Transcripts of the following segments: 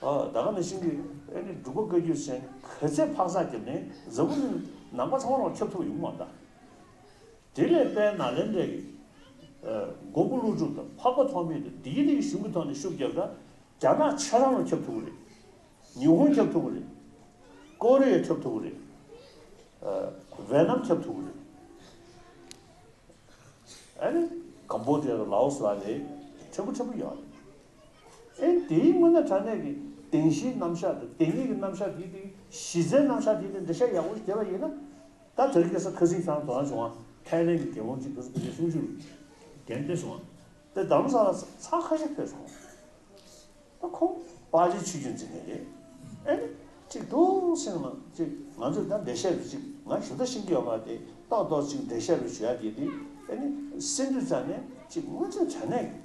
བདག་གི་ནི་ཤིང་གི་ཨེ་ནི་སྒྲུབ་པ་བཀའ་རྒྱུད་ཆེན་གོས་ཚད་འཕག་འཚག་གི་ནི་གཟར་བུ་ནི་ནང་པ་ཚང་བ་རང་ཁྱབ་ཐུགས་ཡུགས་མ་འདའ། དེ་ལས་དཔལ་ནཱ་ལེནྡྲའི་གི། མགོན་པོ་ཀླུ་སྒྲུབ་དང་འཕགས་པ་ཐོགས་མེད་དུ་དེའི་རིགས་གཞུང་གི་ཐོག་ནས་ཤུགས་རྒྱབ་ན། རྒྱ་ནག་ཆེ་རང་རང་ཁྱབ་ཐུགས་ཀྱི་རེད། ཉི་ཧོང་ཁྱབ་ཐུགས་ཀྱི་རེད། ཀོ་རི་ཡ་ཁྱབ་ཐུགས་ཀྱི་རེད། ཝེ་ནམ་ཁྱབ་ཐུགས་ཀྱི་རེད། ཨེ་ནི་ཀམ་པོ་ཏི་ཡ་དང་ལའོ་སི་ལ་ནི་ཕྲན་བུ་ཕྲན་བུ་ཡོད་རེད། ཨེ། དེའི་སྔོན་ན་དྲ་གནས་ཀྱི་དེང་གཞིའི་རྣམ་གཞག་དང་དེ་ཉིད་ཀྱི་རྣམ་གཞག་དེའི་སྟེང་གཞི་རྩའི་རྣམ་གཞག་དེའི་སྟེང་འགྲེལ་བཤད་ཡག་པོ་ཞིག་བྱས་པ་ཡིན་ན། ད་དེར་སྐྱེས་ས་ཁ་སིག་ཐང་དུ་འང་བྱུང་བ་ཐའི་ལེན་གྱི་རྒྱལ་བོང་གཅིག་གི་སྐུ་ཚེ་སུམ་ཅུ་རུ་གྱེན་ལྡེབས་སོང་བ་དེ་གདམ་ས་ལ་ཚགས་ཁ་ཤས་ཕེབས་སོང་བ་ད་ཁོང་དཔའ་རྗེ་ཆོས་རྒྱུན་འཛིན་མཁན་རེད་ཨེ། གཅིག་ཐུགས་སེང་ལ་གཅིག་ང་ཚོས་ད་འགྲེལ་བཤད་དུ་གཅིག་ང་ཞུ་ད་ཤིང་གི་ཡོད་པ་དེ་ཏོག་ཏོག་གཅིག་འགྲེལ་བཤད་རུ་ཞུ་ཡ་དེ་དེ་ཨེ། སེམས་འདུས་ཙང་ནས་གཅིག་སྔོན་ཆད་དྲ་གནས་ཀྱི།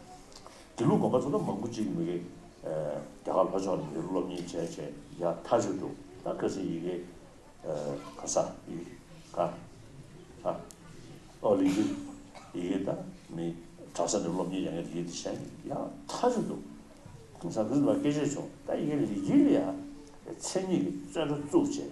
དེ་ལུགས་དགོན་པ་ཚོ་ལ་མང་པོ་ཅིག་མི་རེ་རྒྱ་གར་ལྷོ་ཕྱོགས་ནས་ཡོད་སློབ་གཉེར་བྱས་བྱས་ཡ་མཐའ་གཅོད་འདུག་ད་སྐད་ཆ་ཡི་གེ་ག་ས་ཡི་ག་ཨ་ཨོ་ལི་ཀི་ཡི་གེ་ད་མི་དྲག་ས་ནས་སློབ་གཉེར་ཡ་ངས་རིག་ཡི་དེ་བྱས་ཡ་མཐའ་གཅོད་འདུག་ད་ས་ཁུལ་ལ་སྐད་ཆ་བྱུང་ད་ཡི་གེ་རིག་ཡི་ལ་ཡ་ཚེ་གཉིས་ཀྱི་རྩོད་འགྲོ་བཙུགས་བྱས།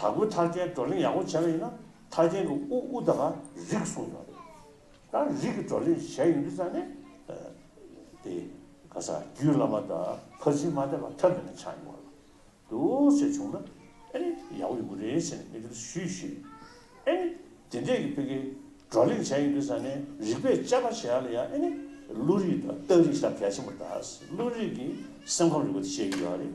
དྭགས་པོའི་མཐར་བྱའི་བགྲོ་གླེང་ཡག་པོ་བྱས་པ་ཡིན་ན་མཐར་བྱའི་གི་ཨུ་ཨུ་ད་ག་རིག་གསུངས་ཡོད་རེད། ད་རིག་གི་བགྲོ་གླེང་བྱས་ཡོང་དུས་ཙང་ནས་དེ་ག་ས་རྒྱུད་བླ་མ་ད་ཕར་ཕྱིན་མ་བསྡད་པ་ཐབས་མེད་ན་ཆགས་ཡོང་བ་འདུག་ཟེར་བྱུང་ན་ཨེ་ཡག་པོ་ཡོང་གི་རེད་ཟེར་ནས་མི་དེར་ཞུས་ཞུས། ཨེ་ནི་དེ་འདྲས་ཀྱི་ཕི་གི་བགྲོ་གླེང་བྱས་ཡོང་དུས་ཙང་ནས་རིག་པས་དཔྱད་པ་བྱས་ཡག་ལ་ཡག་ཨེ་ནི་ཀླུ་རིག་དང་སྟག་རིག་ས་གལ་ཆེན་པོ་ད་ཀླུ་རིག་གི་སེམས་ཁམས་རིག་པ་དེ་བཤད་ཀྱི་ཡོད་རེད།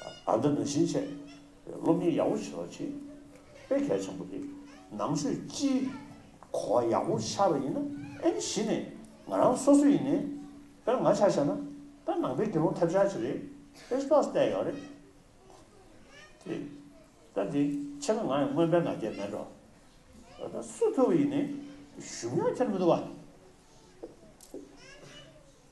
ད་ལྟ་ནང་བཞིན་བྱས། སློབ་གཉེར་ཡག་པོ་བྱེད་པ་ཆེས་དཔེ་གལ་ཆེན་པོ་རེད། ནང་ཆོས་སྤྱིའི་གོ་བ་ཡག་པོ་ཤར་བ་ཡིན་ན་ཨེ་ནི་གཞི་ནས་ང་རང་སོ་སོ་ཡིན་ནའི། དཔེར་ང་ཆ་བྱས་ན་དཔེར་ནང་པའི་དགེ་སློང་ཐབས་ཆག་ཅིག་རེད་དཔེ་ལྟ་བལྟས་ཡོད་རེད་དེ། ད་དེ་ཕྱེད་ཀ་ང་ཡང་སྔོན་དཔེར་ང་རྒྱལ་མེད་འགྲོ། ད་ལྟ་སུ་ཕུལ་བ་ཡིན་ནའི་གཞུང་ཡང་འཁྱེར་མི་འདུག་བ།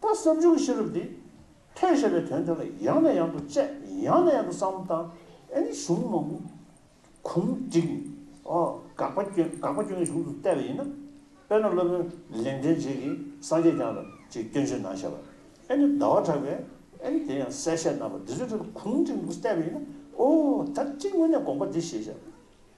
ད་སེམས་བྱུང་གི་ཤེས་རབ་འདིས། ཐོས་ཞེས་པའི་དོན་དོན་ལ་ཡང་ནས་ཡང་དུ་དཔྱད། ཡང་ནས་ཡང་དུ་བསམ་དང། ཨེ་ནི་གཞུང་མ་མོ། གུང་བསྒྲིགས། དགག་པ་སྐྱོན་དགག་པ་སྐྱོན་གྱི་གཞུང་དུ་བལྟས་པ་ཡིན་ན། དཔེར་ན་སློབ་དཔོན་ལེགས་འགྲེལ་རྗེས་ཀྱི་སངས་རྒྱས་བསྐྱངས་ལ་ཅིག་སྐྱོན་ཆེན་ནང་བཤད་པ། ཨེ་ནི་ཟླ་བ་གྲགས་པས། ཨེ་ནི་དེ་ཡང་གསལ་བཤད་རྣམ་པ་འདི་ཚོའི་ཁྲོད་དུ་གུང་བསྒྲིགས་འདུག་བལྟས་པ་ཡིན་ན། ཨོ། ད་ཅིག་དངོས་གནས་དགོངས་པ་འདི་ཞེས་བཤད་པ།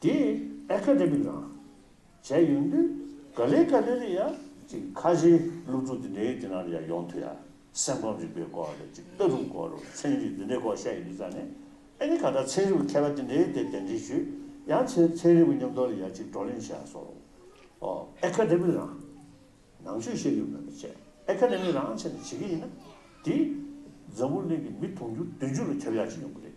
དེ་ཨེ་ཁ་རེད་མི་དང། བྱས་ཡོང་དུས་ག་ལེ་ག་ལེ་རེད་ཡ། ཅིག་ཁ་བྱེའི་སློབ་ཕྲུག་དེ་འདྲའི་དེ་ནང་ཡ་ཡོང་ཐུ་ཡ། སེམས་ཁམས་རིག་པའི་སྐོར་རེད་ཅིག་ལྟ་གྲུབ་སྐོར་རོ་ཚན་རིག་དེ་འདྲའི་སྐོར་བཤད་ཡོང་དུས་ཙང་ནས་ཨེ་ནི་ག་ད་ཚན་རིག་པའི་མཁས་པ་དེ་འདྲའི་དེ་གདན་འདྲེན་ཞུས་ཡང་ཚེ་ཚན་རིག་པའི་ཉམས་རྟོགས་ལ་ཡ་ཅིག་བགྲོ་གླེང་བྱས་སོ། ཨོ་ཨེ་ཁ་རེད་མི་རང། ནང་ཆོས་བཤད་ཡོད་མེད་མི་ཆེ་ཨེ་ཁ་རེད་མི་རང་བྱས་ནས་བྱེད་ཀྱི་ཡིན་ན་དེ། འཛམ་བུ་གླིང་གི་མི་དུང་ཕྱུར་བདུན་ཅུ་ལ་ཁྱབ་ཡ་ཅིག་ཡོང་གི་རེད།